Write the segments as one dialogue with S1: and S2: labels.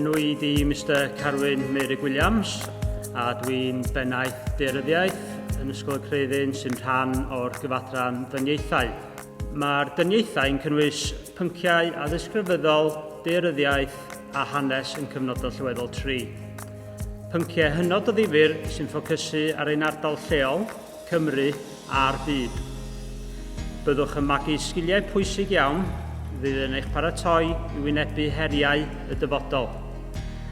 S1: enw i di Mr Carwyn Mary Williams a dwi'n bennaeth deiryddiaeth yn Ysgol y Creuddyn sy'n rhan o'r gyfadran dyniaethau. Mae'r dyniaethau yn cynnwys pynciau addysg rhyfeddol, deiryddiaeth a hanes yn cyfnodol llyweddol 3. Pynciau hynod o ddifur sy'n ffocysu ar ein ardal lleol Cymru a'r byd. Byddwch yn magu sgiliau pwysig iawn fydd yn eich paratoi i wynebu heriau y dyfodol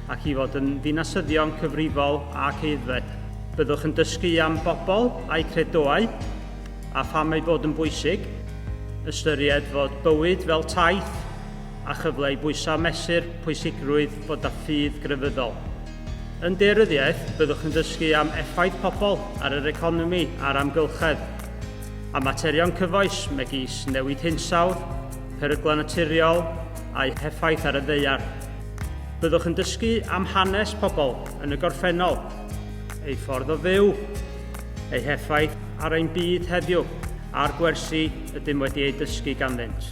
S1: ac i fod yn ddinasyddion cyfrifol ac aeddfed. Byddwch yn dysgu am bobl a'u credoau a pham eu bod yn bwysig, ystyried fod bywyd fel taith a chyfle i bwyso a mesur pwysigrwydd bod â ffydd grefyddol. Yn daearyddiaeth, byddwch yn dysgu am effaith pobl ar yr economi a'r amgylchedd, a materion cyfoes megis newid hinsawdd, peryglau naturiol a'u heffaith ar y ddaear. Byddwch yn dysgu am hanes pobl yn y gorffennol, eu ffordd o fyw, eu heffaith ar ein byd heddiw a'r gwersi ydym wedi eu dysgu ganddynt.